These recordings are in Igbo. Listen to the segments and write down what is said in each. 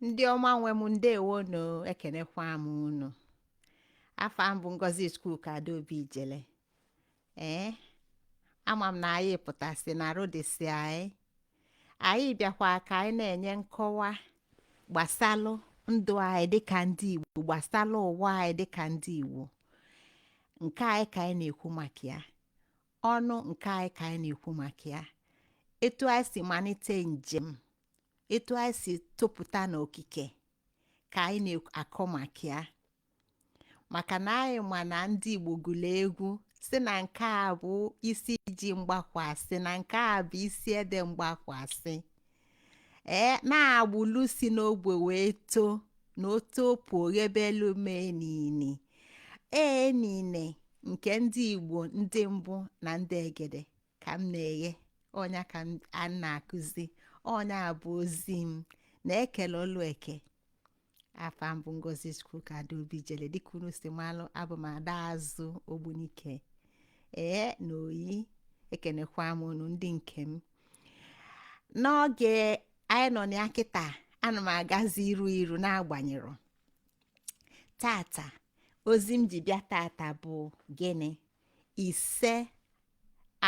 ndị ọma nwe m ndewonu ekenekwa m unu afa m bụ ngozi chukwuka adaobi ijele ee ama m na anyị pụtasị na rodesi anyị anyị bịakwa ka anyị na-enye nkọwa gbasalụ ndụ anyị dịka ndị Igbo gbasalụ ụwa anyị dịka ndị Igbo nke anyị ka anyị na-ekwu maka ya ọnụ nke anyị ka anyị na-ekwu maka ya etu anyị si malite njem etu anyị si topụta n'okike ka anyị na-akọ maka ya maka na anyị ma na ndị Igbo gụrụ egwu si na nke a bụ isi ji mgbakwasị na nke a bụ isi ede mgbakwasị ee na agbụlụ si n'ogbe wee too na otopu oghebelu mee nini ee nine nke ndị Igbo ndị mbụ na ndị egede ka m na-eghe ọnya ka m na-akụzi ọnya bụ ozi m na-ekele ọlụ eke afa m bụ ngozi chukwuka adaobi ijele dịka unu si malụ abụ m ada azụ ogbunike ee na oyi ekenekwa m unu ndị nke m n'oge anyị nọ na ya kịta ana m agazi iru iru n'agbanyere tata ozi m ji bịa tata bụ gịnị ise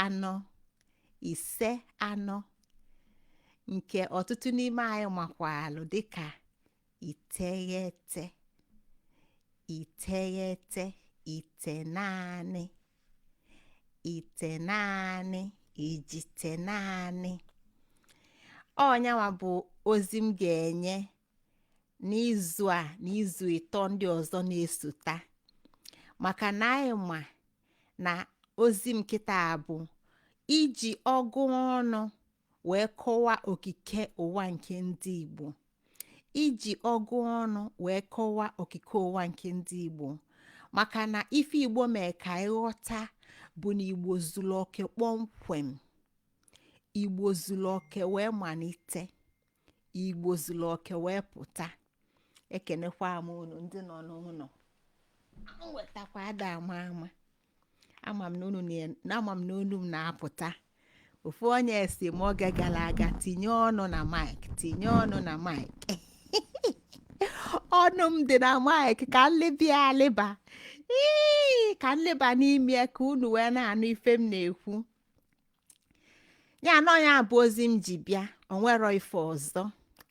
anọ ise anọ nke ọtụtụ n'ime anyị makwalụ dịka iteghete iteghete itenaanị itenaanị ijitenaanị ọnyanwa bụ ozi m ga-enye n'izu a na izu ịtọ ndị ọzọ na-esota maka na anyị ma na ozi m kịta bụ iji ọgụ ọnụ wee kọwaa okike ụwa nke ndị Igbo iji ọgụ ọnụ wee kọwaa okike ụwa nke ndị Igbo maka na ife Igbo mee ka anyị ghọta bụ na Igbo zuru oke kpọmkwem Igbo zuru oke wee malite igbo zuru oke wee pụta ekenekwa m unu ndị nọ n'ụnọ nwetakwa ada ama ama ama m na unu na- na ama m na olu m na-apụta ofu onye sị m oge gara aga tinye ọnụ na mic tinye ọnụ na mic ọnụ m dị na mic ka m lịba alịba ii ka m lịba n'ime ya ka unu wee na-anụ ife m na-ekwu ya na ọ ya bụ ozi m ji bịa o nwerọ ife ọzọ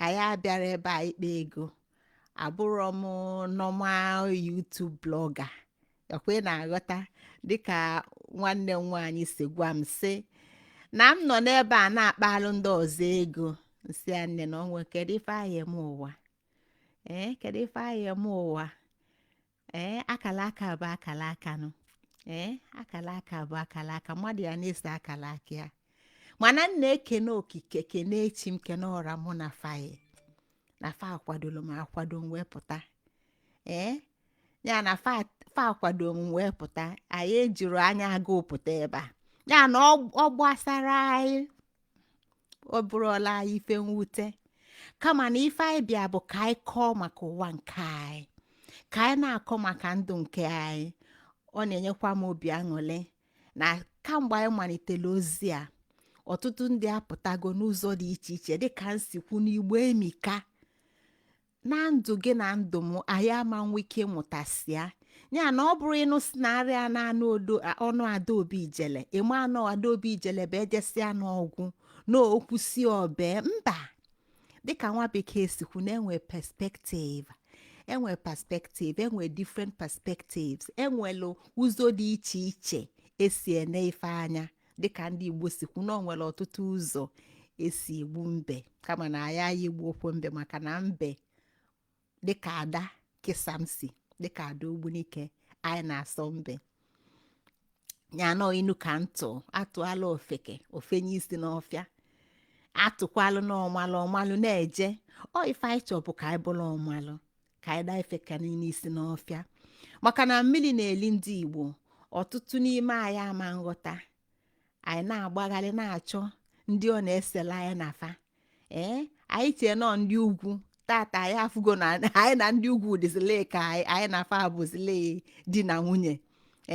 anyị abịarọ ebe a ịkpa ego abụrọ m normal YouTube blogger ekwe na-aghọta dịka nwanne m nwaanyị si gwa m sị na m nọ n'ebe a na-akpalụ ndị ọzọ ego m sị ya nne na onwe kedu ife a ya-eme ụwa ee kedu ife a ya-eme ụwa ee akala aka bụ akala aka nụ ee akala aka bụ akala aka mmadụ ya na-ese akala aka ya mana m na-ekene okike kene chi m kene ọra mụ na fa yi na fa kwadoro m akwado m wee pụta ee ya na fa fa akwado m wee pụta anyị ejirọ anya agụụ pụta ebe a ya na ọ ọ gbasarọ anyị ọ bụrọlụ anyị ife mwute kama na ife anyị bịa bụ ka anyị kọọ maka ụwa nke anyị ka anyị na-akọ maka ndụ nke anyị ọ na-enyekwa m obi aṅụrị na kamgbe anyị malitere ozi a ọtụtụ ndị apụtago n'ụzọ dị iche iche dịka m si kwu n'igbo emika na ndụ gị na ndụ m anyị ama nwe ike ịmụtasịa ya na ọ bụrụ ịnụ si na arịa na anụ odo a- ọnụ adaobi ijele ị ma na ọ adaobi ijele bụ ejesịa ọ gwụ na o kwusịa o bee mba dịka nwa bekee si kwu na enwe perspective enwe perspective enwe different perspectives e nwelu ụzọ dị iche iche e si ene ife anya dịka ndị igbo si kwu na o nwere ọtụtụ ụzọ e si egbu mbe kama na anyị anyị egbukwọ mbe maka na mbe dịka ada kesamsi dịka ada ogbunike anyị na-asọ mbe ya na ọ inu ka m tụ a tụalụ ofeke o fenye isi n'ọfịa a tụkwalụnụ ọmalụ ọ malụ na-eje ọ ife anyị chọọ bụ ka anyị bụrụ ọmalụ ka anyị daa ife ka niile isi n'ọfịa maka na mmiri na-eli ndị igbo ọtụtụ n'ime anyị ama aghọta anyị na-agbagharị na-achọ ndị ọ na-esela anyị na fa ee anyị chee na ọ ndị ugwu tata anyị afụgo na anyị na ndị ugwu dịzile ka anyị anyị na fa abụzile di na nwunye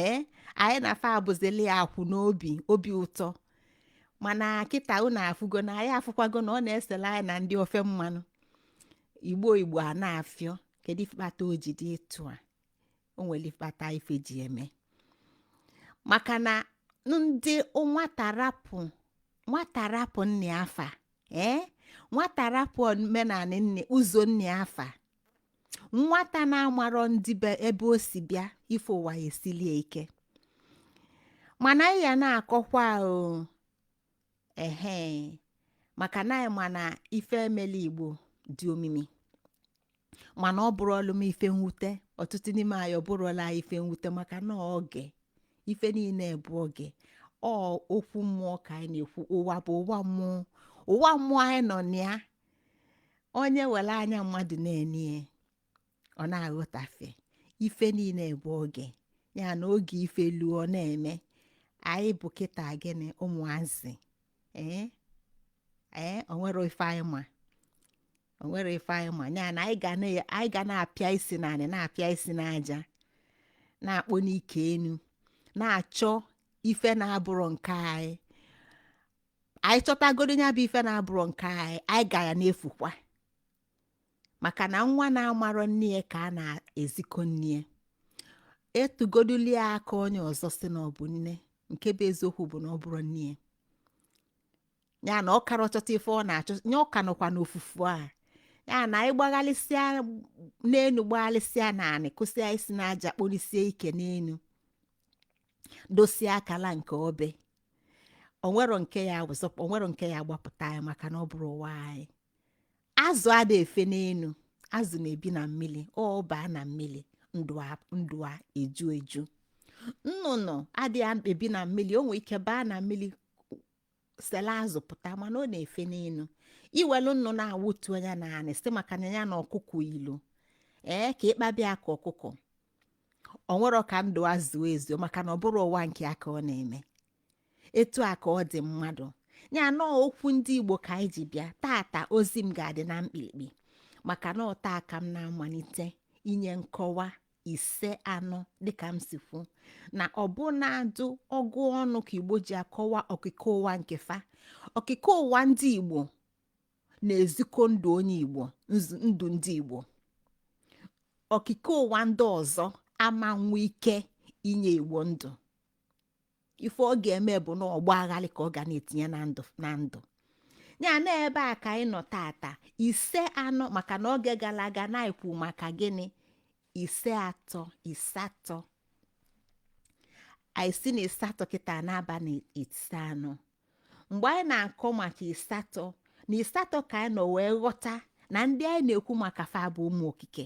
ee anyị na fa abụzile akwụ n'obi obi ụtọ mana kịta unu afụgo na anyị afụkwago na ọ na-esela anyị na ndị ofe mmanụ igbo igbo a na-afịọ kedu ife kpata o ji dị etu a o nwere ife kpata ife ji eme maka na ndị nwata rapụ nwata rapụ nnịa fa ee nwata rapụ omenala nne ụzọ nnịa fa nwata na-amarọ ndị be ebe o si bịa ife ụwa ya esilie ike mana anyị ya na-akọkwa o ehe maka na anyị ma na ife melu igbo dị omimi mana ọ bụrọlụ m ife mwute ọtụtụ n'ime anyị ọ bụrọlụ anyị ife mwute maka na oge ife niile bụ oge ọ okwu mmụọ ka anyị na-ekwu ụwa bụ ụwa mmụọ ụwa mmụọ anyị nọ na ya onye welu anya mmadụ na-ene ọ na-aghọtafe ife niile bụ oge ya na oge ife luo ọ na-eme anyị bụ kịta gịnị ụmụazị ee ee onwerọ ife anyị ma onwerọ ife anyị ma ya na anyị ga na- anyị ga na-apịa isi n'anị na-apịa isi n'aja na-akpọni ike enu na-achọ ife na-abụrọ nke anyị anyị chọtagodo ya bụ ife na-abụrọ nke anyị anyị ga ya na-efukwa maka na nwa na-amarọ nne ya ka a na-ezikọ nne ya atụgodulu ya aka onye ọzọ si na ọ bụ nne nke bụ eziokwu bụ na ọ bụrọ nne ya ya na ọ karọ achọta ife ọ na-achọ ya ọ ka nọkwa n'ofufu a ya na anyị gbagharịsịa n'enu gbagharịsịa n'anị kụsịa isi n'aja kpọlisie ike n'enu dosie akala nke obe onwerọ nke ya-azọkwa onwerọ nke ya-agbapụta anyị maka na ọ bụrọ ụwa anyị azụ ada efe n'enu azụ na-ebi na mmili ọ baa na mmili ndụ a- ndụ a eju eju nnụnụ ada ebi na mmili o nwee ike baa na mmili selu azụ pụta mana ọ na-efe n'enu i welu nnụnụ a wetuo ya n'anị sị maka na ya na ọkụkọ yilu ee ka ị kpaba ya ka ọkụkọ o nwerọ ka ndụ a zuo ezuo maka na ọ bụrọ ụwa nke ya ka ọ na-eme etu a ka ọ dị mmadụ ya na okwu ndị igbo ka anyị ji bịa tata ozi m ga-adị na mkpirikpi maka na ọ taa ka m na-amalite inye nkọwa ise anọ dịka m si kwu na ọ bụ na adụ ọgụ ọnụ ka igbo ji akọwa okike ụwa nke fa okike ụwa ndị igbo na-ezikọ ndụ onye igbo nzu- ndụ ndị igbo okike ụwa ndị ọzọ ama nwe ike inye igbo ndụ ife ọ ga-eme bụ na ọgba aghalị ka ọ ga na-etinye na ndụ na ndụ ya na ebe a ka anyị nọ tata ise anọ maka na oge gala aga na anyị kwu maka gịnị ise atọ isatọ anyị si na isatọ kịta na-aba na ise anọ mgbe anyị na-akọ maka isatọ na isatọ ka anyị nọ wee ghọta na ndị anyị na-ekwu maka fa bụ ụmụ okike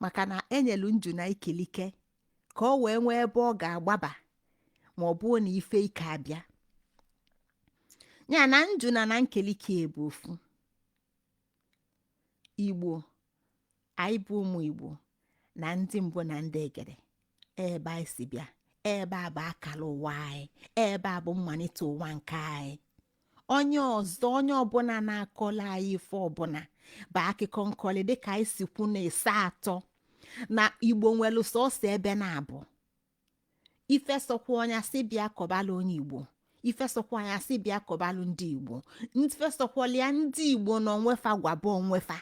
maka na e nyelu njuna ikilike ka o wee nwee ebe ọ ga-agbaba ma ọ bụrụ na ife ike abịa ya na njuna na nkilike bụ ofu igbo anyị bụ ụmụ igbo na ndị mbụ na ndị egede ebe anyị si bịa ebe a bụ akara ụwa anyị ebe a bụ mmalite ụwa nke anyị onye ọzọ onye ọbụla na-akọla anyị ife ọbụla bụ akụkọ nkọli dịka anyị si kwu na isatọ na igbo nwere sọsọ ebe naabọ ife sọkwa onye asị bịa kọbalụ onye igbo ife sọkwa onye asị bịa kọbalụ ndị igbo ife sọkwala ya ndị igbo na onwefa gwaba onwefa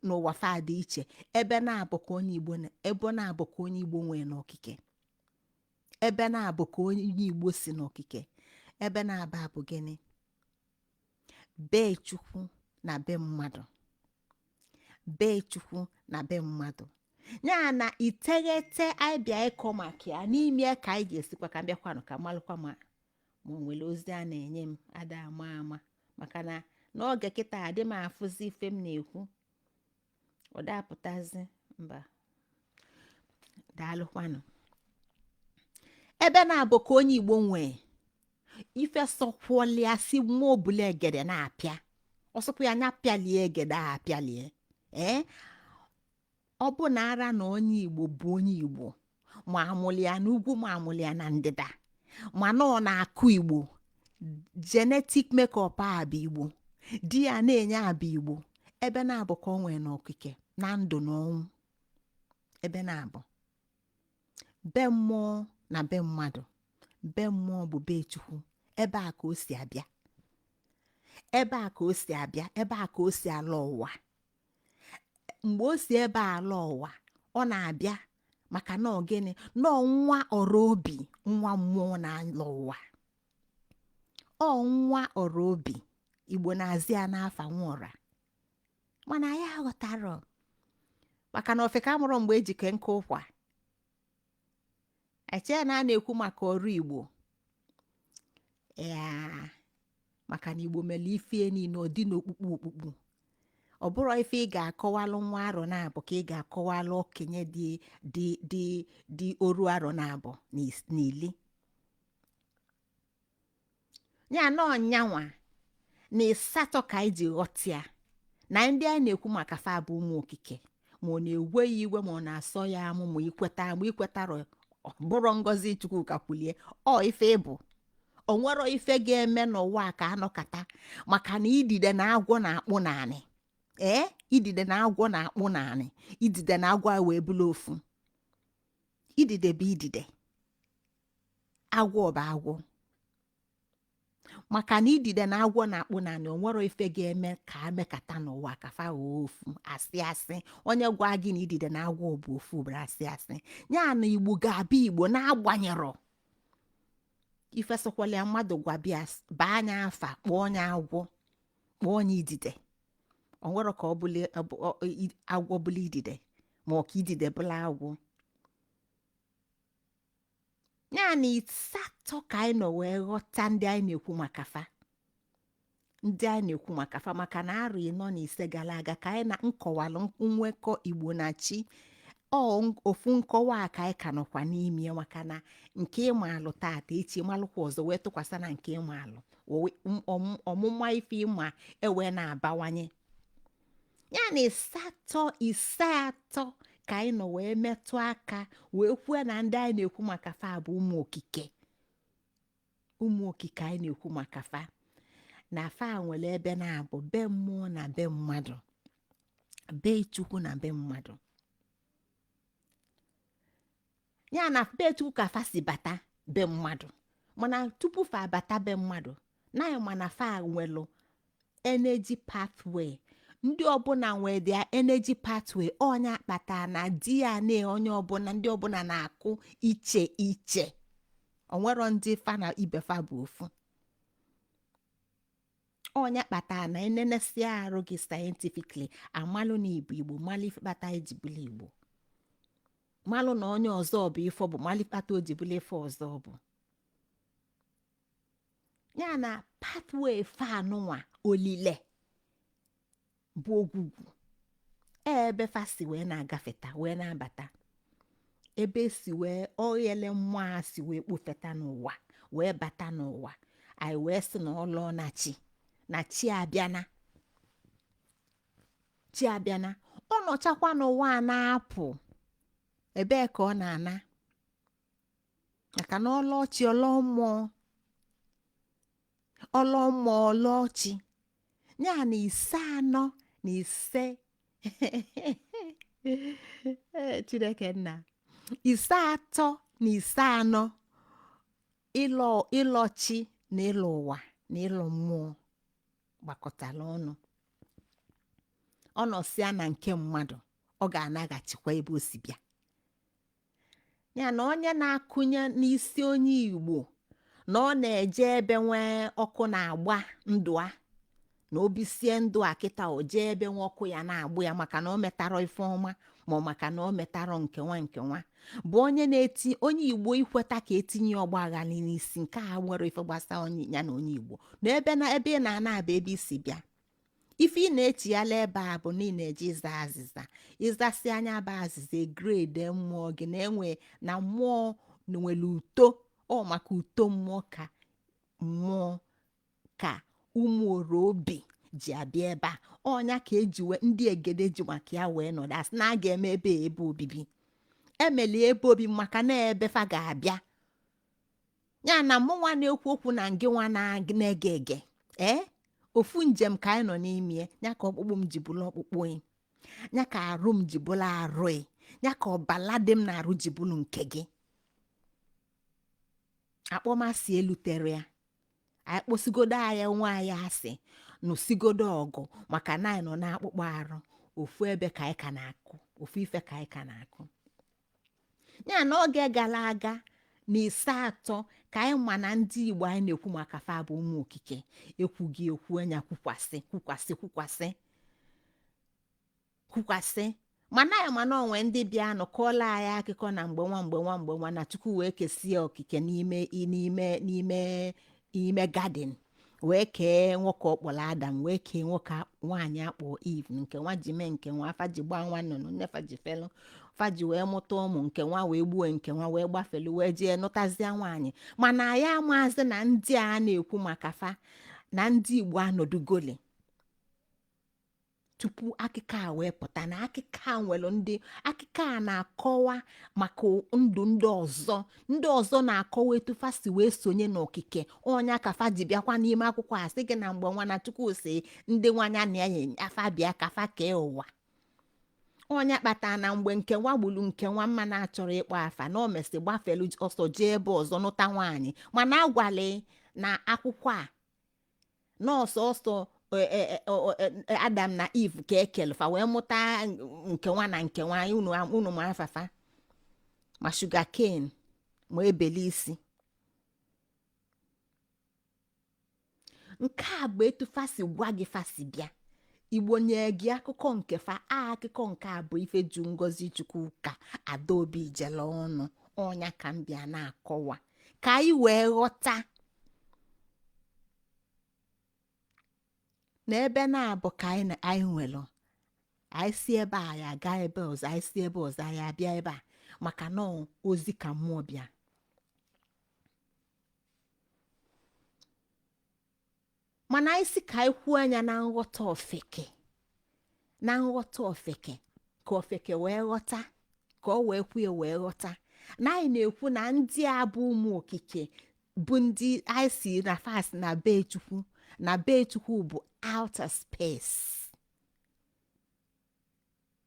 na ụwa fa dị iche ebe naabọ ka onye igbo na- ebe naabọ ka onye igbo nwee n'okike ebe naabọ ka onye igbo si n'okike ebe naabọ a bụ gịnị be chukwu na be mmadụ be chukwu na be mmadụ ya na iteghete anyị bịa ịkọ maka ya n'ime ya ka anyị ga-esikwa ka m bịakwanụ ka m malụkwa ma ma o nwere ozi a na-enye m ada ama ama maka na n'oge kịta adị m afụzi ife m na-ekwu ọ dapụtazi mba daalụkwanụ ebe naabọ ka onye igbo nwee ife sọkwalụ ya si nwa ọbụla egede na-apịa ọsọpụ ya anya pịalie egede a pịalie ee ọ bụ na ara na onye igbo bụ onye igbo ma a mụlụ ya n'ugwu ma a mụlụ ya na ndịda mana ọ na-akụ igbo genetic makeup ya bụ igbo DNA ya bụ igbo ebe naabọ ka o nwee na okike na ndụ na ọnwụ ebe naabọ be mmụọ na be mmadụ be mmụọ bụ be chukwu ebe a ka o si abịa ebe a ka o si abịa ebe a ka o si ala ụwa mgbe o si ebe a ala ụwa ọ na-abịa maka na ọ gịnị na nwa ọra obi nwa mmụọ na-ala ụwa ọ nwa ọra obi igbo na-azị ya n'afa nwa ọra mana anyị aghọtarọ maka na ofeke amarọ mgbe e ji ke nkụ ụkwa e chee na a na-ekwu maka ọra igbo ya maka na igbo mere ife niile ọ dị n'okpukpu okpukpu ọ bụrọ ife ị ga-akọwalụ nwa arọ naabọ ka ị ga-akọwalụ okenye dị dị dị dị oru arọ naabọ na ili ya na ọnyanwa na ịsatọ ka anyị ji ghọta ya na ndị anyị na-ekwu maka fa bụ ụmụ okike ma ọ na-ewe ya iwe ma ọ na-asọ ya amụ ma i kweta ma i kwetarọ ọ bụrọ ngọzi chukwuka kwulie ọ ife ị bụ o nwero ife ga-eme n'ụwa a ka anọkata maka na idide na agwọ na-akpụ n'anị ee idide na agwọ na-akpụ n'anị idide na agwọ a wee bụrụ ofu idide bụ idide agwọ bụ agwọ maka na idide na agwọ na-akpụ n'anị onwero ife ga-eme ka amekata n'ụwa ka fa ghọọ ofu asị asị onye gwa gị na idide na agwọ bụ ofu bụrụ asị asị ya na igbo ga-abụ igbo n'agbanyerọ ife sọkwalụ ya mmadụ gwa bịa baa anyị afa kpọọ onye agwọ kpọọ onye idide onwero ka agwọ bụla idide ma ọ ka idide bụla agwọ ya na ịsatọ ka anyị nọ wee ghọta ndị anyị na-ekwu maka fa ndị anyị na-ekwu maka fa maka na arọ ịnọ na ise gara aga ka anyị na-akọwalụ nwekọ igbo na chi ọ n- ofu nkọwa a ka anyị ka nọkwa n'ime ya maka na nke ị malụ tata echi malụkwa ọzọ wee tụkwasị na nke ị malụ owe- m- ọm- ọmụma ife ị ma ewee na-abawanye ya na ịsatọ ise atọ ka anyị nọ wee metụ aka wee kwuo na ndị anyị na-ekwu maka fa bụ ụmụ okike ụmụ okike anyị na-ekwu maka fa na fa nwere ebe naabọ be mmụọ na be mmadụ be chukwu na be mmadụ ya na be chukwu ka fa si bata be mmadụ mana tupu fa abata be mmadụ na anyị ma na fa nwelụ energy pathway ndị ọbụla nwee their energy pathway ọ nya kpata na DNA onye ọbụla ndị ọbụla na-akwụ iche iche onwero ndị fa na ibe fa bụ ofu ọ nya kpata na e nenesia arụ gị scientifically amalụ na ị bụ igbo malụ ife kpata i ji bụlụ igbo malụ na onye ọzọ bụ ife ọ bụ malụ ife kpata o ji bụlụ ife ọzọ ọ bụ ya na pathway fa nụnwa olile bụ ogwugwu ebe fa si wee na-agafeta wee na-abata ebe e si wee oghele mmụọ a si wee kpofeta n'ụwa wee bata n'ụwa anyị wee sị na ọ lọ na chi na chi abịana chi abịana ọ nọchakwa n'ụwa a na-apụ ebee ka ọ na-ana maka na ọ lọ chi ọ lọ mmụọ ọlọma ọlọchi ya na ise anọ na ise Ee, chineke nna ise atọ na ise anọ ịlọ ịlọ chi na ịlọ ụwa na ịlọ mmụọ gbakọtara ọnụ ọ nọsịa na nke mmadụ ọ ga-anaghachikwa ebe o si bịa ya na onye na-akụnye n'isi onye igbo na ọ na-eje ebe nwee ọkụ na-agba ndụ a na o bisie ndụ a kịta o jee ebe nwa ọkụ ya na-agba ya maka na o metarọ ife ọma ma ọ maka na o metarọ nke nwa nke nwa bụ onye na-eti onye igbo i kweta ka e tinye ọgba aghara n'isi nke a nwere ife gbasara onye ya na onye igbo na ebe na ebe ị na-ana bụ ebe i si bịa ife ị na-echighala ebe a bụ na ị na-eje ịza azịza ị zasịa nya bụ azịza e grade mmụọ gị na-enwe na mmụọ nwere uto ọ maka uto mmụọ ka mmụọ ka ụmụ oro obi ji abịa ebe a ọ nya ka e ji wee ndị egede ji maka ya wee nọdụ asị na a ga-eme ebe a ebe obibi e meli ebe obibi maka na ebe fa ga-abịa ya na mụ nwa na-ekwu okwu na ngị nwa na- na-ege ege ee ofu njem ka anyị nọ n'ime ya ya ka ọkpụkpụ m ji bụrụ ọkpụkpụ ị ya ka arụ m ji bụrụ arụ ị ya ka ọbala dị m n'arụ ji bụrụ nke gị akpọmasị eluterọ ya anyị kpọsigodo onwe anyị asị nụsigodo ọgụ maka na anyị nọ n'akpụkpọ arụ ofu ebe ka anyị ka na-akụ ofu ife ka anyị ka na-ekwu ya na oge gara aga na ise atọ ka anyị ma na ndị igbo anyị na-ekwu maka fa bụ ụmụ okike ekwughị ekwu anyị ekwukwasị kwukwasị kwukwasị kwukwasị mana anyị ma na o nwe ndị bịanụ kọọla anyị akụkọ na mgbe nwa mgbe nwa mgbe nwa na chukwu wee kesie okike n'ime n'ime n'ime n'ime garden wee kee nwoke ọ kpọrọ adam wee kee nwoke a- nwaanyị a kpọ eve nke nwa ji mee nke nwa fa ji gbaa nwa nnụnụ nne fa ji felu fa ji wee mụta ụmụ nke nwa wee gbuo nke nwa wee gbafelu wee jee nụtazịa nwaanyị mana anyị amazị na ndị a na-ekwu maka fa na ndị igbo anọdụgoli tupu akụkọ a wee pụta na akụkọ a nwere ndị akụkọ a na-akọwa maka ndụ ndị ọzọ ndị ọzọ na-akọwa etu fa si wee sonye n'okike ọ nya ka fa ji bịakwa n'ime akwụkwọ a sị gị na mgbe nwa na chukwu sị ndị nwa nya na enyi afa bịa ka fa kee ụwa ọ nya kpatara na mgbe nke nwa gburu nke nwa m na-achọrọ ịkpọ afa na o mesị gbafelu ọsọ jee ebe ọzọ nụta nwaanyị mana a gwali na akwụkwọ a na ọ sọọsọ e, e, e, ọ- ọ- e, e, adam na eve ka e kele fa wee mụta nke nwa na nke nwa unu am- unu ma afa fa ma sugar cane ma abel isi nke a bụ etu fa si gwa gị fa si bịa igbo nye gị akụkọ nke fa a akụkọ nke a bụ ife ju ngozichukwuka adaobijele ọnụ ọ nya ka m bịa na-akọwa ka anyị wee ghọta na ebe naabọ ka anyị na- anyị nwere anyị si ebe a anyị aga ebe ọzọ anyị si ebe ọzọ anyị abịa ebe a maka na ọ ozi ka mmụọ bịa mana anyị sị ka anyị kwuo ya na nghọta ofeke na nghọta ofeke ka ofeke wee ghọta ka ọ wee kwuo wee ghọta na anyị na-ekwu na ndị a bụ ụmụ okike bụ ndị anyị sị na fa si na be chukwu na be chukwu bụ outer space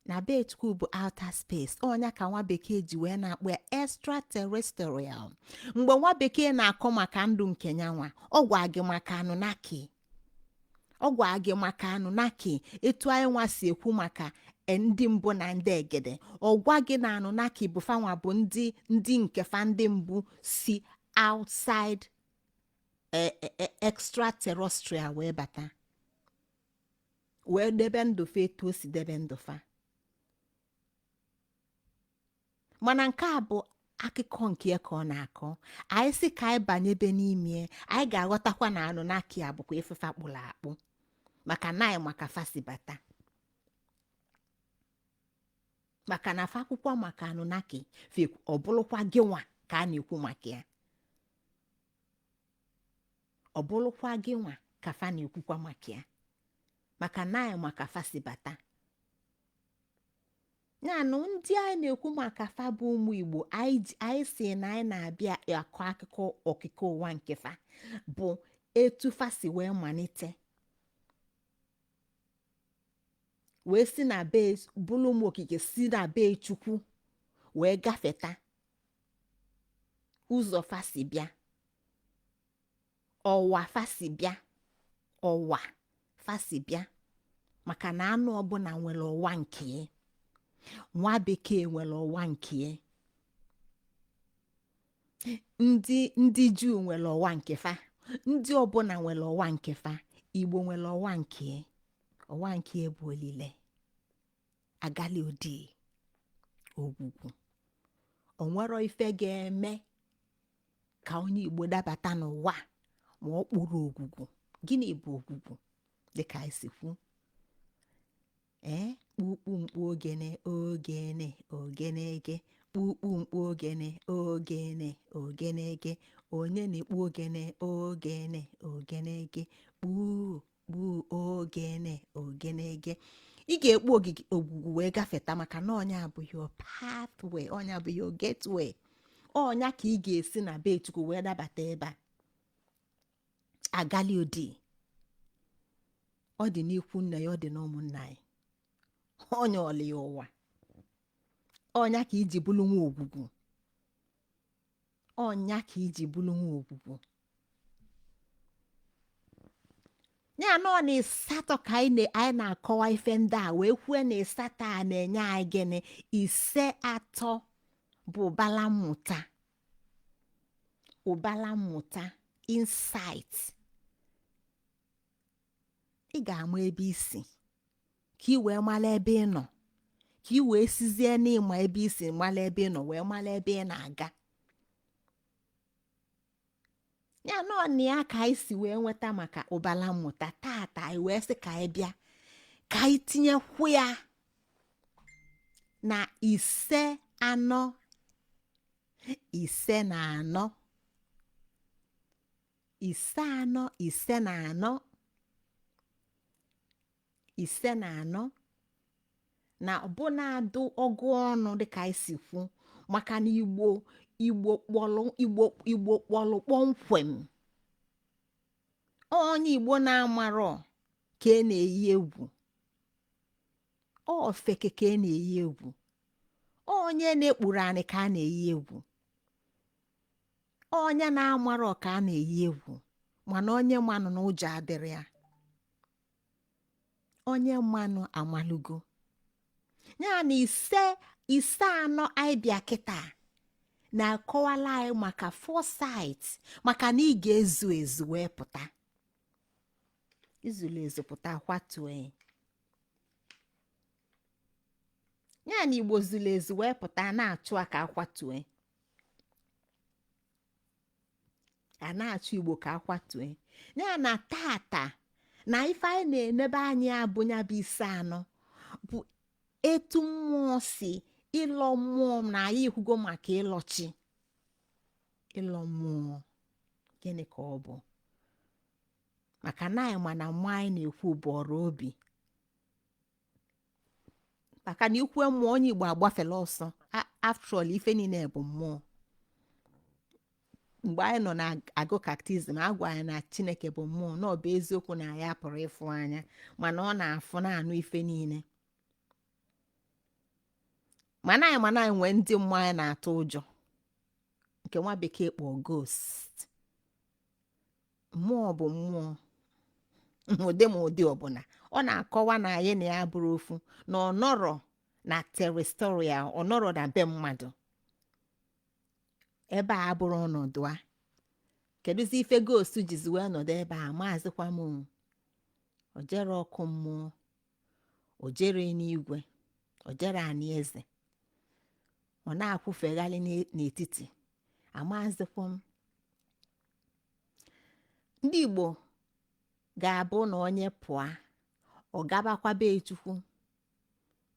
na be chukwu bụ outer space ọ nya ka nwa bekee ji wee na-akpọ ya extraterrestrial mgbe nwa bekee na-akọ maka ndụ nke nya nwa ọ gwa gị maka anunnaki ọ gwa gị maka anunnaki etu anyị nwa si ekwu maka e, ndị mbụ na ndị egede ọ gwa gị na anunnaki bụ fa nwa bụ ndị ndị nke fa ndị mbụ si outside e- e- e- extraterrestrial wee bata wee debe ndụ fa etu o si debe ndụ fa mana nke a bụ akụkọ nke ya ka ọ na-akọ anyị sị ka anyị banyebe n'ime ya, anyị ga-aghọtakwa na anunnaki a bụkwa ife fa kpụrụ akpụ maka na anyị ma ka fa si bata maka na fa kwukọ maka anunnaki ọ bụrụkwa gị nwa ka a na-ekwu maka ya ọ bụrụkwa gị nwa ka fa na-ekwukwa maka ya maka na anyị ma ka fa si bata nyanụ ndị anyị na-ekwu maka fa bụ ụmụ igbo anyị ji- anyị sị na anyị na-abịa akọ akụkọ okike ụwa nke fa bụ etu fa si wee malite wee si na be bụrụ ụmụ okike si na be chukwu wee gafeta ụzọ fa si bịa ọwa fa si bịa ọwa fa si bịa maka na anụ ọbụla nwere ọwa nke ya nwa bekee nwere ọwa nke ya ndị ndị juu nwere ọwa nke fa ndị ọbụla nwere ọwa nke fa igbo nwere ọwa nke ya ọwa nke ya bụ olile agali odi ogwugwu o nwero ife ga-eme ka onye igbo dabata n'ụwa ma o kpuro ogwugwu gịnị bụ ogwugwu dịka anyị si kwu ee kpukpu mkpu ogene ogene ogenege kpukpu mkpu ogene ogene ogenege onye na-ekpu ogene ogene ogenege kpuu kpuo ogene ogenege ị ga-ekpu ogwugwu wee gafeta maka na ọ nya bụ your pathway ọ nya bụ your gateway ọ nya ka ị ga-esi na be chukwu wee dabata ebe a agali odi ọ dị n'ikwu nna ya ọ dị n'ụmụnna anyị ọnya ọlị ya ụwa ọ nya ka i ji bụrụ nwa ogwugwu ọ nya ka i ji bụrụ nwa ogwugwu ya na ọ n'ịsatọ ka anyị na- anyị na-akọwa ife ndị a wee kwue na ịsatọ a na-enye anyị gịnị ise atọ bụ ụbala mmụta ụbala mmụta insight ị ga-ama ebe i si ka ị wee mara ebe ị nọ ka ị wee sizie n'ịma ebe i si mara ebe ị nọ wee mara ebe ị na-aga ya na ọ nya ka anyị si wee nweta maka ụbala mmụta tata anyị wee sị ka anyị bịa ka anyị tinyekwu ya na ise anọ ise na anọ ise anọ ise na anọ ise na anọ na ọbụna adụ ọgụ ọnụ dịka anyị si kwu maka na igbo igbo kpọlụ igbo igbo kpọlụ kpọmkwem onye igbo na-amarọ ka a na-eyi egwu ọ ofeke ka a na-eyi egwu onye na-ekpuro anị ka a na-eyi egwu onye na-amarọ ka a na-eyi egwu mana onye manụ na ụjọ adịrọ ya onye manụ amalugo ya na ise ise anọ anyị bịa kịta na-akọwalụ anyị maka foresight maka na ị ga-ezu ezu wee pụta i zulu ezu pụta kwatuo ya ya na igbo zulu ezu wee pụta na-achụ ya ka a kwatue a na-achụ igbo ka a kwatue ya na tata na ife anyị na-enebe anya bụ ya bụ ise anọ bụ etu mmụọ si ịlọ mmụọ na anyị ekwugo maka ịlọ chi ịlọ mmụọ gịnị ka ọ bụ maka na anyị ma na mmụọ anyị na-ekwu bụ ọrụ obi maka na i kwue mmụọ onye igbo agbafela ọsọ after all ife niile bụ mmụọ mgbe anyị nọ na-agụ catechism a gwa anyị na chineke bụ mmụọ na ọ bụ eziokwu na anyị apụrọ ịfụ anya mana ọ na-afụ na-anụ ife niile mana anyị nwee ndị mmụọ anyị na-atụ ụjọ nke nwa bekee kpọọ ghost mmụọ bụ mmụọ n'ụdị ma ụdị ọbụla ọ na-akọwa na anyị na ya bụrụ ofu na ọ nọrọ na terrestrial ọ nọrọ na be mmadụ ebe a abụrọ ọnọdụ a kedụzi ife ghost jizi wee nọdụ ebe a amaazịkwa m o jerọ ọkụ mmụọ o jerọ enigwe o jerọ anị eze ọ na-akwụfegharị n'etiti amaazịkwa m ndị igbo ga-abụ na onye pụọ ọ gabakwa be chukwu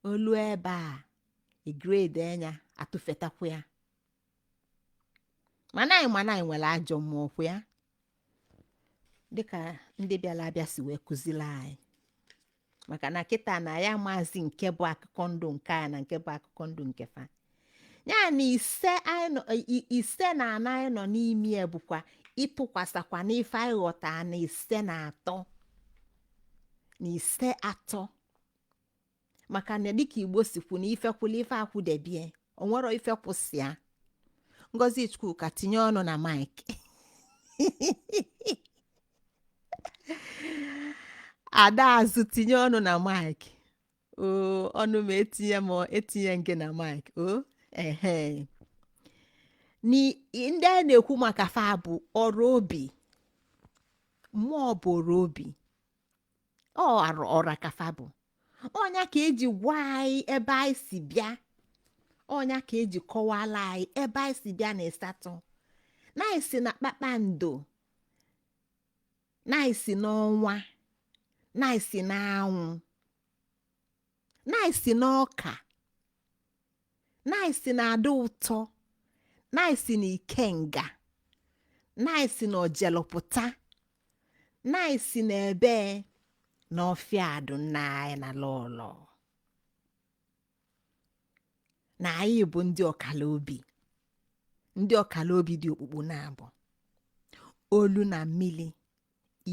o lue ebe a e grade ya a tụfetakwa ya mana anyị nwere ajọ mmụọ kwụ ya dịka ndị bịara abịa si wee kụzili anyị maka na kịta na anyị amaazị nke bụ akụkọ ndụ nke anyị na nke bụ akụkọ ndụ nke fa ya na ise na anọ anyị nọ n'ime ya bụkwa ịtụkwasakwa n'ife anyị ghọta na ise na atọ na ise atọ maka na dịka igbo si kwu na ife kwụlụ ife akwụdebie o nwerọ ife kwụ sọ ya ngozi chukwuka tinye ọnụ na mic adaazụ tinye ọnụ na mic o ọnụ m etinye m etinye gị na mic o ehe ndị a na-ekwu maka fa bụ ọra obi mmụọ bụ ọra obi ọ ọra ka fa bụ ọ nya ka e ji gwa anyị ebe anyị si bịa ọ nya ka e ji kọwala anyị ebe anyị si bịa na ịsatọ na anyị si na kpakpando na anyị si n'ọnwa na anyị si n'anwụ na anyị si na ọka na anyị si na adụ ụtọ na anyị si na ikenga na anyị si na ojelụpụta na anyị si na ebe na ọfịa adụ nna anyị na lọlọ na anyị bụ ndị ọkala obi ndị ọkala obi dị okpukpu naabọ olu na mmili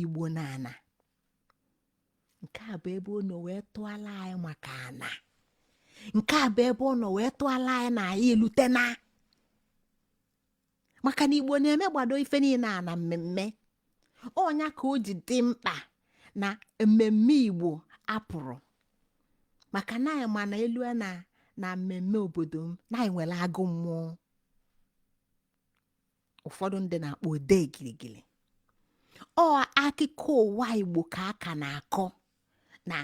igbo na ana nke a bụ ebe ọ nọ wee tụọla anyị maka ana nke a bụ ebe ọ nọ wee tụọla anyị na anyị elutena maka na igbo na-emegbado ife niine a na mmemme ọ nya ka o ji dị mkpa na mmemme igbo apụrụ maka na anyị ma na elu na na mmemme obodo m na anyị nwere agụ mmụọ ụfọdụ ndị na-akpọ odee gịrịgịrị ọ akụkọ ụwa igbo ka a ka na-akọ na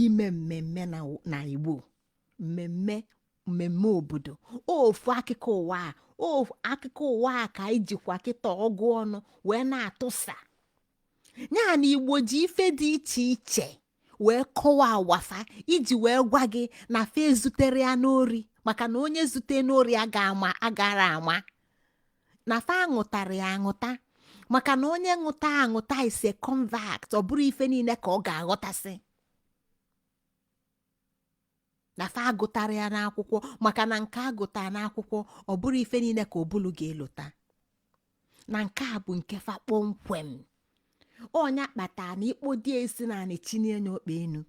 ime mmemme na na igbo mmemme mmemme obodo ofu akụkọ ụwa a ofu akụkọ ụwa a ka anyị jikwa kịta ọgụ ọnụ wee na-atụsa ya na igbo ji ife dị iche iche wee kọwaa ụwa fa iji wee gwa gị na fa ezuterọ ya n'ori maka na onye zute n'ori agarọ ama na fa aṅụtarọ ya aṅụta maka na onye ṅụta aṅụta is a convert ọ bụrọ ife niine ka ọ ga-aghọtasị na fa agụtarọ ya n'akwụkwọ maka na nke a gụta n'akwụkwọ ọ bụrọ ife niine ka ụbụlụ ga-elota na nke a bụ nke fa kpọmkwem ọ nya kpata na i kpodie isi n'anị chinie ọkpa enu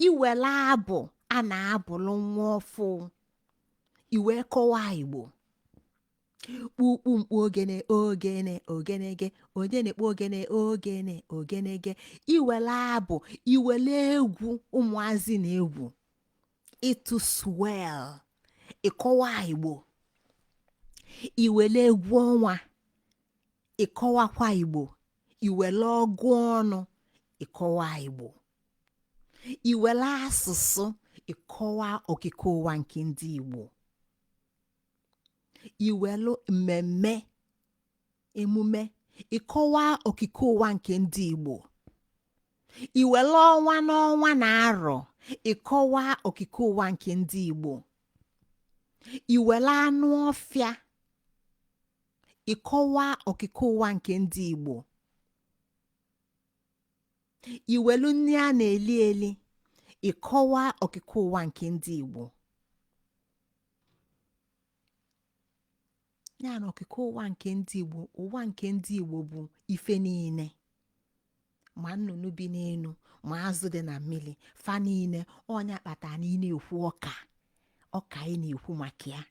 i wele abụ a na-abụlụ nwa ọfụụ i wee kọwa igbo kpukpu mkpu ogene ogene ogenege onye na-ekpo ogene ogene ogenege i wele abụ i wele egwu ụmụazị na egwu ịtụ swell ị kọwa igbo i wele egwu ọnwa ị kọwakwa igbo i wele ọgụ ọnụ ị kọwa igbo i wele asụsụ ị kọwa okike ụwa nke ndị igbo i welu mmemme emume ị kọwa okike ụwa nke ndị igbo i welu ọnwa n'ọnwa na arọ ị kọwa okike ụwa nke ndị igbo i welu anụ ọfịa ị kọwa okike ụwa nke ndị igbo i welu nni a na-eli eli ị kọwa okike ụwa nke ndị igbo ya na okike ụwa nke ndị igbo ụwa nke ndị igbo bụ ife niine ma nnụnụ bi n'enu ma azụ dị na mmili fa niine ọ nya kpata na ị na-ekwu ọka ọka ị na-ekwu maka ya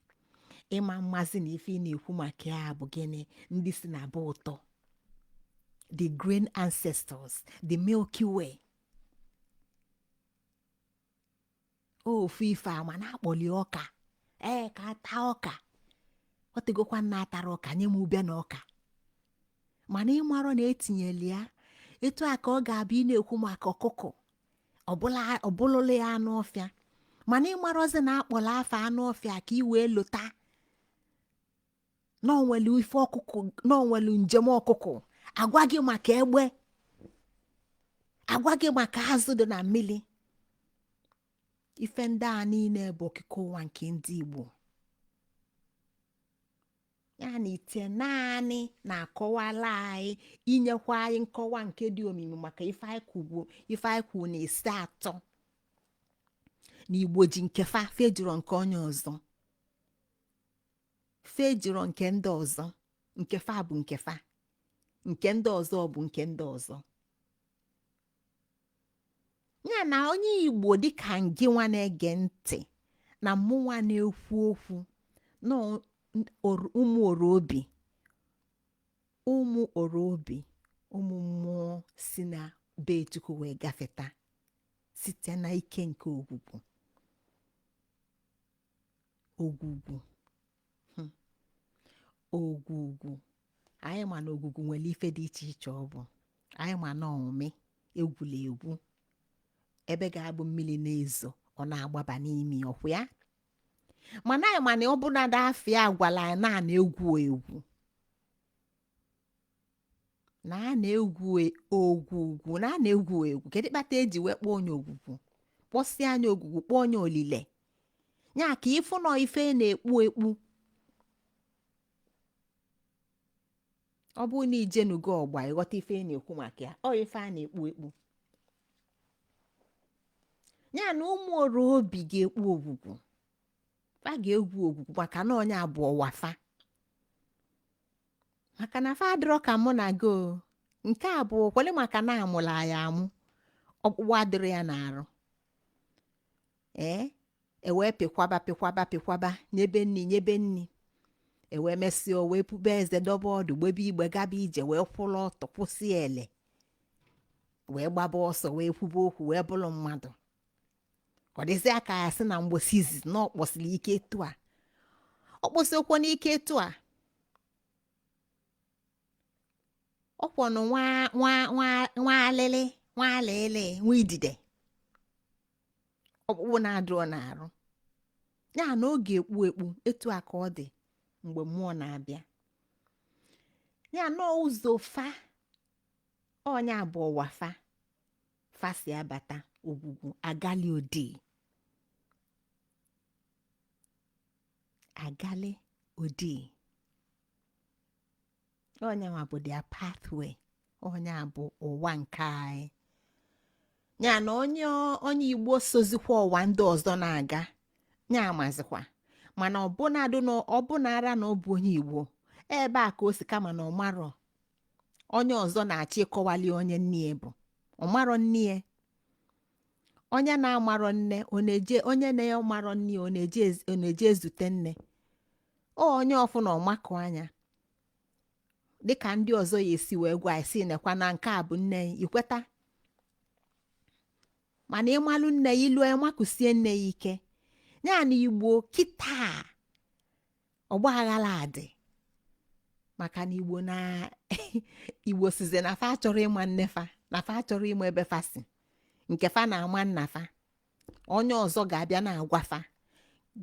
ị ma mazị na ife ị na-ekwu maka ya bụ gịnị ndị si na be ụtọ the grand ancestors the milky way ofu ife ama na-akpọli ọka ee ka ata ọka ọ tegokwa nna atara ọka nye m ube na ọka mana ịmarọ na etinyeli ya etu a ka ọ ga-abụ ị na-ekwu maka ọkụkọ ọbụla ọbụlụlụ ya anụ ọfịa mana ịmarọzi na akpọla afa anụ ọfịa ka ị wee lota na o nwelu ife ọkụkụ na o nwelu njem ọkụkụ agwa gị maka egbe agwa gị maka azụ dị na mmiri ife ndị a niile bụ okike ụwa nke ndị Igbo ya na itenaanị na-akọwala anyị enyekwa anyị nkọwa nke dị omimi maka ife anyị kwugbu ife anyị kwuru na ịsatọ na Igbo ji nke fa fa ejirọ nke onye ọzọ fa ejirọ nke ndị ọzọ nke fa bụ nke fa nke ndị ọzọ bụ nke ndị ọzọ ya na onye igbo dịka ngịnwa na-ege ntị na mụnwa na-ekwu okwu na ụmụ oro obi ụmụ oro obi ụmụ mmụọ si na be chukwu wee gafeta site na ike nke ogwugwu ogwugwu hmm. ogwugwu anyị ma na ogwugwu nwere ife dị iche iche ọ bụ anyị ma na ọmị egwulu egwu ebe ga-abụ mmiri na-ezo ọ na-agbaba n'ime ọkwụ ya mana anyị ma na ọbụladị afa ya agwala anyị na a na-egwu egwu na a na-egwu e- ogwugwu na a na-egwu egwu kedu kpata eji wee kpọọ nya ogwugwu kpọsịa nya ogwugwu kpọọ nya olile ya ka ị fụ na ọ ife na-ekpu ekpu ọ bụrụ na i jenugo ọgba ị ghọta ife a na-ekwu maka ya ọ ife a na-ekpu ekpu ya na ụmụ oro obi ga-ekpu ogwugwu fa ga-egwu ogwugwu maka na onye abụ ọwa fa maka na fa adịrọ ka mụ na gị o nke a bụ kwele maka na amụla ya amụ ọkpụkpụ adịrị ya n'arụ ee e wee pịkwaba pịkwaba pịkwaba nyebe nri nyebe nri e wee mesịa o wee pube eze dobe ọdụ gbebe igbe gaba ije wee kwụrụ ọtọ kwụsị ele wee gbaba ọsọ wee kwube okwu wee bụrụ mmadụ ọ dịzị ka a ya-asị na mbọsị izizi na ọ kpọsiri ike etu a ọ kpọsiokwanụ ike etu a ọ kwanụ nwa nwa nwa nwa alịlị nwa alịlị nwa idide ọkpụkpụ na-adịrọ n'arụ ya na ọ ga-ekpu ekpu etu a ka ọ dị mgbe mmụọ na-abịa ya na ụzọ fa ọ ya bụ ọwa fa fa si abata ogwugwu agali odi agali odi ọ ya nwa bụ their pathway ọ ya bụ ọwa nke anyị ya na onye onye igbo sozikwa ọwa ndị ọzọ na-aga ya amazikwa mana ọbụnadụ na ọbụnara na ọ bụ onye igbo ebe a ka o si kama na ọ marọ onye ọzọ na-achọ ịkọwali onye nne ya bụ ọ marọ nne ya onye na-amarọ nne ọ na-eje onye na-amarọ nne ya ọ na-eje ez- ọ na-eje ezute nne ọ onye ọ fụna ọ makụ anya dịka ndị ọzọ ya-esi wee gwa ị sị nekwa na nke a bụ nne ị i kweta mana ị malụ nne ị i lu makụsie nne ị ike ya na igbo kịta ọgba aghara adị maka na igbo na igbo sịzị na fa achọrọ ịma nne fa na fa achọrọ ịma ebe fa si nke fa na-ama nna fa onye ọzọ ga-abịa na-agwa fa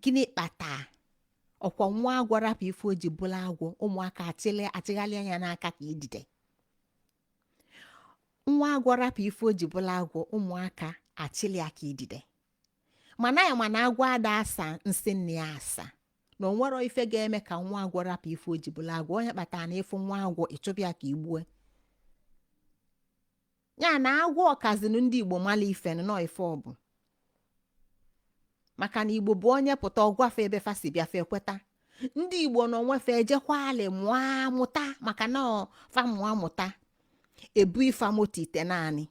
gịnị kpata ọkwa nwa agwọ rapụ ife o ji bụlụ agwọ ụmụaka achịlị achịghalịa ya n'aka ka idide nwa agwọ rapụ ife o ji bụlụ agwọ ụmụaka achịlị ya ka idide mana anyị ma na agwọ ada asa nsị nne ya asa na o nwero ife ga-eme ka nwa agwọ rapụ ife o ji bụlụ agwọ ọ ya kpatara na ị fụ nwa agwọ ị chụba ya ka i gbue ya na agwọ kazinu ndị igbo malụ ife na ọ ife ọ bụ maka na igbo bụ onye pụta ọ gwa fa ebe fa si bịa fa ekweta ndị igbo na onwe fa ejekwa alị mụọ amụta maka na ọ fa mụọ amụta ebunye fa moto itenaanị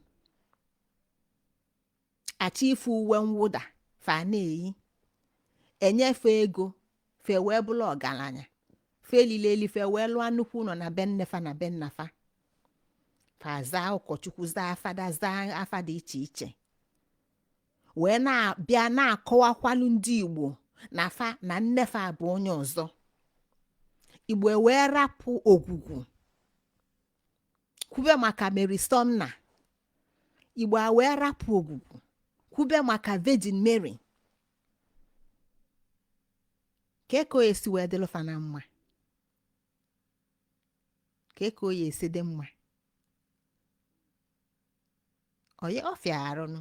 achịnye fa uwe mwụda fa na-eyi enye fa ego fa ewee bụlụ ọgalanya fa lile eli fa ewee lụọ nnukwu ụlọ na be nne fa na be nna fa fa zaa ụkọchukwu zaa fada zaa afa dị iche iche wee na-abịa na-akọwakwalu ndị igbo na fa na nne fa bụ onye ọzọ igbo wee rapụ ogwugwu kwube maka mary sumner igbo ewee rapụ ogwugwu kwube maka virgin mary kee ka ọ ya-esi wee dịlụ fa na mma kee ka ọ ya-esi dị mma ọ ya-afịa arụ nụ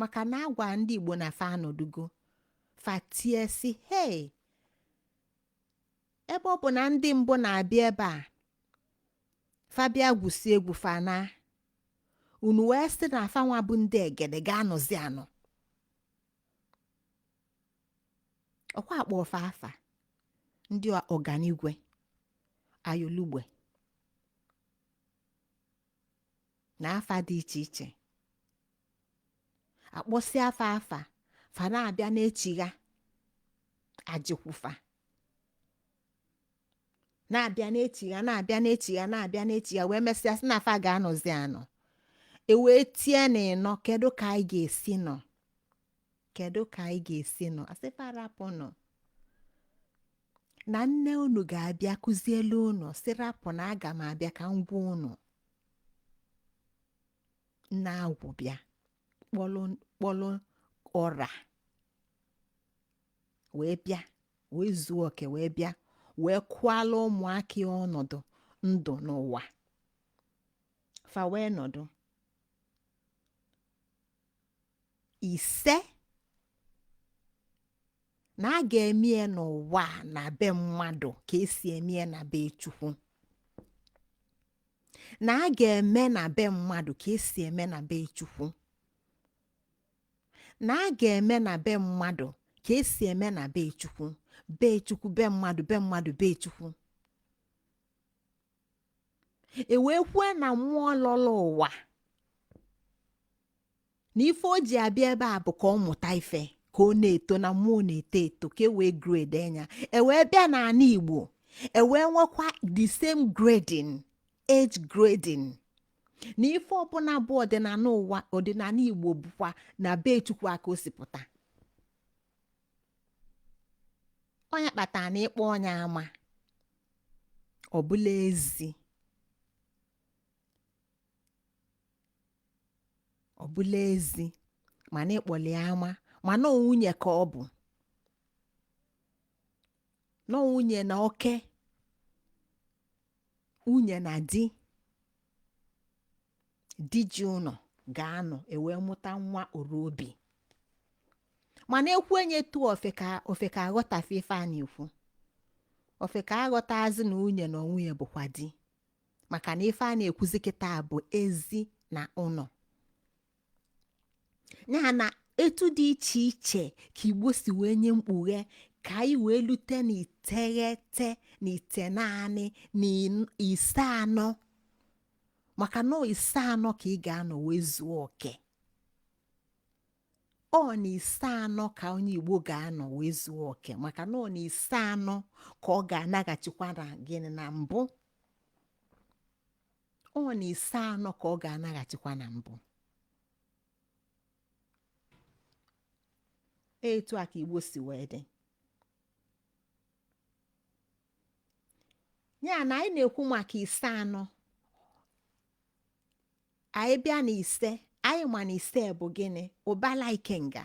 maka na a gwa ndị igbo na fa anọdugo fa tie sị hei ebe ọ bụ na ndị mbụ na-abịa ebe a fa bịa gwusịa egwu fa naa ụnọ wee sị na fa nwa bụ ndị egede ga-anọzi anọ ọkwa a kpọọ fa afa ndị ọganigwe ayolugbe na afa dị iche iche a kpọsị fa afa fa na-abịa na-echigha ajịkwụ fa na-abịa na-echigha na-abịa na-echigha na-abịa na-echigha wee mesịa sị na fa ga-anọzi anọ e wee tie na ịnọ kedu ka anyị ga-esi nọ kedu ka anyị ga-esi nọ a sị fa rapụnụ na nne unu ga-abịa kuzielu unu sị rapụ na aga m abịa ka m gwa unu nne agwụ bịa kpọlụ ọra wee bịa wee zuo oke wee bịa wee kọwaalụ ụmụaka ya ọnọdụ ndụ n'ụwa fa wee nọdụ ise na a ga-eme ya n'ụwa a na be mmadụ ka e si eme ya na be chukwu na a ga-eme na be mmadụ ka e si eme na be chukwu na a ga-eme na be mmadụ ka e si eme na be chukwu be chukwu be mmadụ be mmadụ be chukwu e wee kwue na mmụọ lọrọ ụwa na ife o ji abịa ebe a bụ ka ọ mụta ife ka ọ na-eto na mmụọ na-eto eto ka e wee grade ya e wee bịa n'anị igbo e wee nwekwa the same grading age grading na ife ọbụla bụ ọdịnanị ụwa ọdịnanị igbo bụkwa na be chukwu a ka o si pụta ọ nya kpatara na ị kpọọ onye ama ọ bụlụ ezi ọ bụlụ ezi mana ị kpọlị ya ama mana ọ nwunye ka ọ bụ na ọ nwunye na oke nwunye na di di ji ụnọ ga-anọ e wee mụta nwa oru obi mana ekwu enye etu ofe ka ofe ka a ghọta ife a na-ekwu ofe ka a ghọtazị na nwunye na onwe ya bụkwa di maka na ife a na-ekwuzi kịta bụ ezi na ụnọ ya na etu dị iche iche ka igbo si wee nye mkpughe ka anyị wee lute na iteghete na itenaanị na in- ise anọ maka na ise anọ ka ị ga-anọ wee zuo oke ọ na ise anọ ka onye igbo ga-anọ wee zuo oke maka na ọ na ise anọ ka ọ ga-anaghachikwa na gịnị na mbụ ọ na ise anọ ka ọ ga-anaghachikwa na mbụ etu a ka igbo si wee dị ya na anyị na-ekwu maka ise anọ anyị bịa na ise anyị ma na ise bụ gịnị ụbala ikenga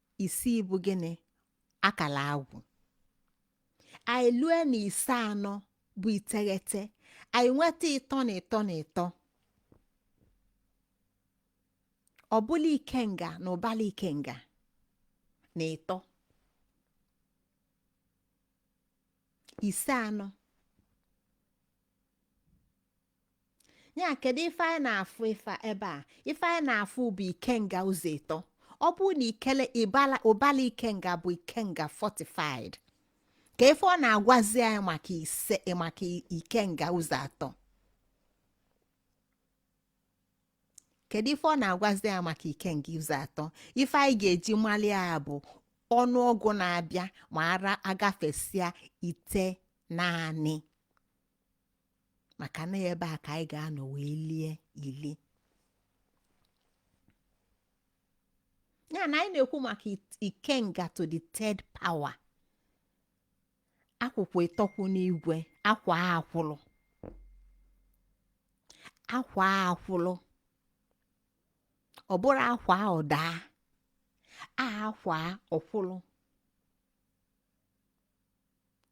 isii bụ gịnị akala agwụ anyị lue na ise anọ bụ iteghete anyị nweta ịtọ na ịtọ na ịtọ ọ bụla ikenga na ụbala ikenga na ịtọ ise anọ ya kedu ife anyị na-afụ ife a- ebe a ife anyị na-afụ bụ ikenga ụzọ ịtọ ọ bụrụ na ikele ịbala ụbala ikenga bụ ikenga fortified kee ife ọ na-agwazi anyị maka ise maka i- ikenga ụzọ atọ kedu ife ọ na-agwazi anyị maka ikenga ụzọ atọ ife anyị ga-eji mali ya bụ ọnụọgụ na-abịa ma a gafesịa itenaanị maka na ebe a ka anyị ga-anọ wee lie ili ya na anyị na-ekwu maka it- ikenga to the third power akwụkwọ ịtọ kwụ n'igwe akwa akwụlụ akwa akwụlụ ọ bụrọ akwaa ọ daa akwaa ọ kwụlụ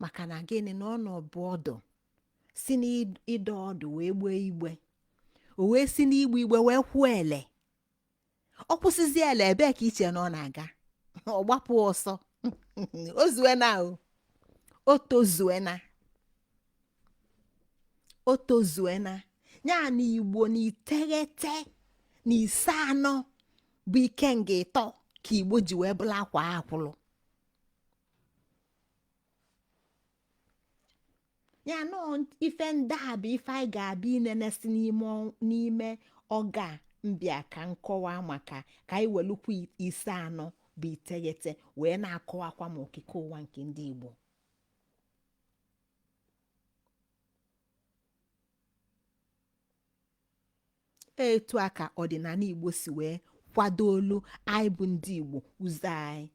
maka na gịnị na ọ nọbụ ọdụ si n'ịdọ ọdụ wee gbee igbe o wee si n'igbe igbe wee kwụọ ele ọ kwụsịzi ele ebee ka i che na ọ na-aga ọ gbapụ ọsọ o zuena o o tozuena o tozuena ya na igbo na iteghete na ise anọ bụ ikenga ịtọ ka igbo ji wee bụrụ akwa akwụlụ ya na ife ndị a bụ ife anyị ga-abịa inenesi n'ime ọga mbịa ka nkọwa maka ka anyị welukwu ise anọ bụ iteghete wee na-akọwakwa ma okike ụwa nke ndị Igbo etu a ka ọdịnanị igbo si wee kwadoolu anyị bụ ndị igbo ụzọ anyị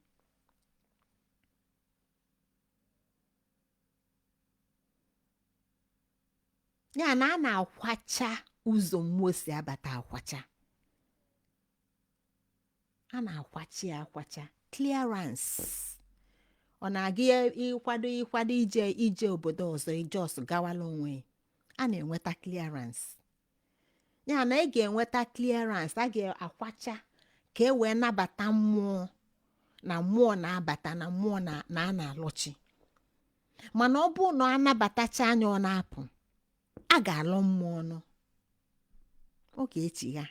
ya na a na-akwacha ụzọ mmụọ si abata akwacha a na-akwacha ya akwacha clearance ọ na-aga ya ịkwado ịkwado ije ije obodo ọzọ ị just gawala onwe ya. a na-enweta clearance ya na ị ga-enweta clearance a ga-akwacha ka e wee nabata mmụọ na mmụọ na-abata na mmụọ na na a na-alọchi mana ọ bụrụ na ọ nabatacha ya ọ na-apụ a ga-alọ mmụọ ọnụ ọ ga-echigha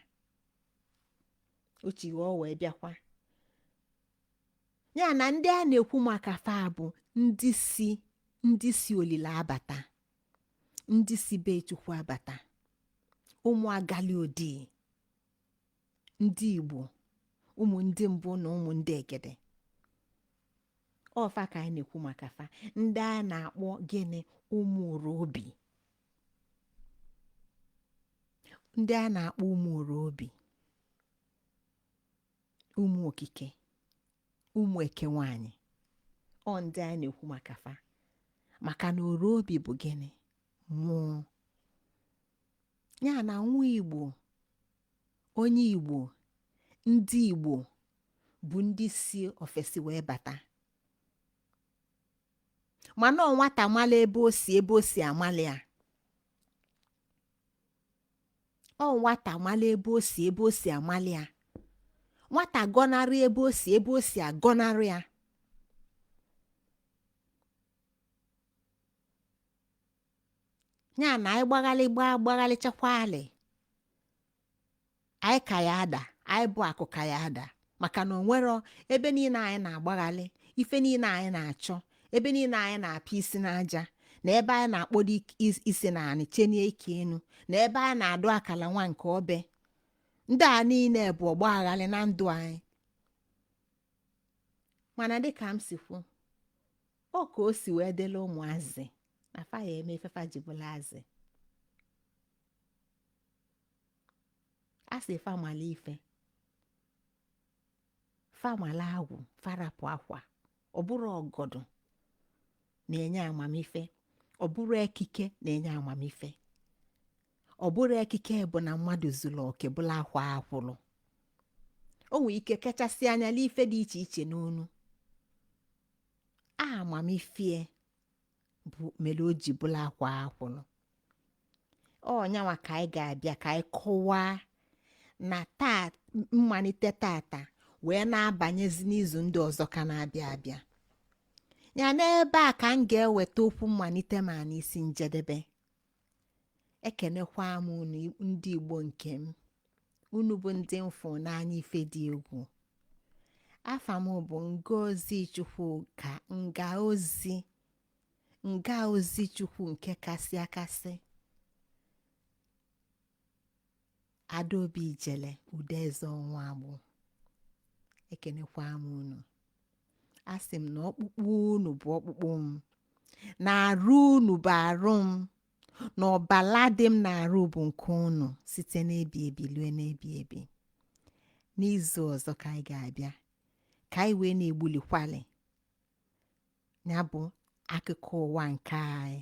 o ji iwe wee bịakwa ya na ndị a na-ekwu maka fa bụ ndị si ndị si olile abata ndị si be chukwu abata ụmụ agali odi ndị igbo ụmụ ndị mbụ na ụmụ ndị egede ọ fa ka anyị na-ekwu maka fa ndị a na-akpọ gịnị ụmụ oro obi ndị anyị na-akpọ ụmụ oro obi ụmụ okike ụmụ eke nwanyị ọ ndị anyị na-ekwu maka fa maka na oro obi bụ gịnị mmụọ ya na nwa igbo onye igbo ndị igbo bụ ndị si ofesi wee bata mana ọ nwata mala ebe o si ebe o si amala ya ọ nwata mala ebe o si ebe o si amala ya nwata gọnarị ebe o si ebe o si agọnarị ya ya na anyị gbaghalị gbaa gbaghalịchakwa alị anyị ka ya ada anyị bụ akụ ka ya ada maka na o nwero ebe niile anyị na-agbaghalị ife niile anyị na-achọ ebe niile anyị na-apịa isi n'aja na ebe anyị na-akpọdo ik- is- isi na anị chenie ike enu na ebe anyị na-adụ akala nwa nke obe ndị a niile bụ ọgbaghalị na ndụ anyị mana dịka m si kwu ọ ka o si wee dịla ụmụazị na fa ya eme ife fa ji bụla azị a sị fa mala ife fa mala agwụ fa rapụ akwa ọ bụrụ ọgọdụ na-enye amamife ọ bụrụ ekike na-enye amamife ọ bụrụ ekike bụ na mmadụ zuru oke bụla akwaa akwụrụ o nwere ike kachasị anya n'ife dị iche iche n'onu amamife bụ mere o ji bụlụ akwa akwụlụ ọ nyanwa ka anyị ga-abịa ka anyị kọwaa na mmalite tata wee na-abanyezi n'izu ndị ọzọ ka na-abịa abịa ya n'ebe a ka m ga-eweta okwu mmalite m a n'isi njedebe ekenekwa m unu ndị igbo nke m unu bụ ndị m fụ n'anya ife dị egwu afa m bụ ngozi chukwuka ngọzi ngọzi chukwu nke kasị akasị Adaobi Ijele Udeze ọnwa agbụ ekenekwa m unu asị m na ọkpụkpụ unu bụ ọkpụkpụ m na arụ unu bụ arụ m na ọbala dị m na arụ bụ nke unu site n'ebi ebi lue n'ebi ebi n'izu ọzọ ka anyị ga-abịa ka anyị wee na-egbulikwali ya bụ akụkọ ụwa nke anyị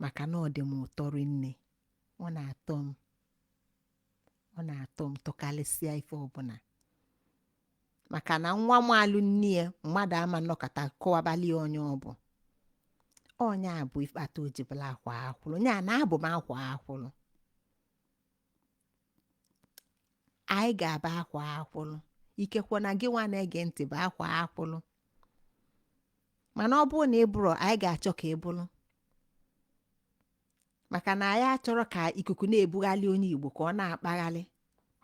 maka na ọ dị m ụtọ rinne ọ na-atọ m ọ na-atọ m tọkarịsịa ife ọbụla maka na nwa malụ nne ya mmadụ ama anọkata kọwabalị ya onye ọ bụ ọ nya bụ ife kpata o ji bụlụ akwa akwụlụ nya na abụ m akwa akwụlụ anyị ga-abụ akwa akwụlụ ikekwe na gị nwa na-ege ntị bụ akwa akwụlụ mana ọ bụrụ na ị bụrọ anyị ga-achọ ka ị bụrụ maka na anyị achọrọ ka ikuku na-ebugharị onye igbo ka ọ na-akpagharị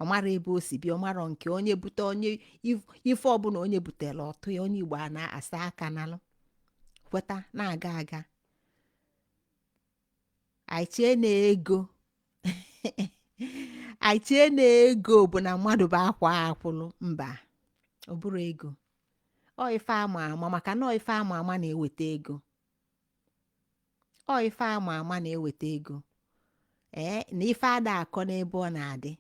ọ marọ ebe o si bịa ọ marọ nke onye bute onye if- ife ọbụla onye butere ọtụ ya onye igbo a na-asa aka nalụ kweta na-aga aga anyị chee na ego anyị chee na ego bụ na mmadụ bụ akwa akwụlụ mba ọ bụrọ ego ọ ife ama ama maka na ọ ife ama ama na-eweta ego ọ ife ama ama na-eweta ego ee na ife ada akọ n'ebe ọ na-adị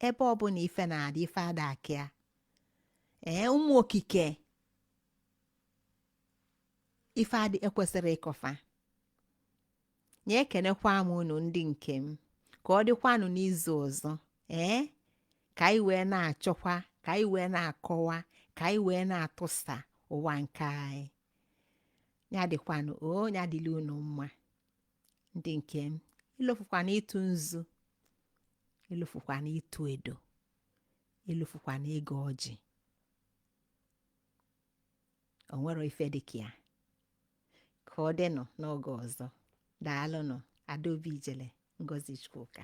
ebe ọbụna ife na-adị ife ada akọ ya ee ụmụ okike ife a dị ekwesịrọ ịkọ fa nya ekenekwa m unu ndị nke m ka ọ dịkwanụ n'izu ọzọ ee ka anyị wee na-achọkwa ka anyị wee na-akọwa ka anyị wee na-atụsa ụwa nke anyị ya dịkwanụ o ya dịlị unu mma ndị nke m ilofukwana ịtụ nzu ilofukwana ịtụ edo ilofukwana ịgọ ọjị o nwere ife dị ka ya ka ọ dịnụ n'oge ọzọ daalụnụ adaobi ijele ngozi chukwuka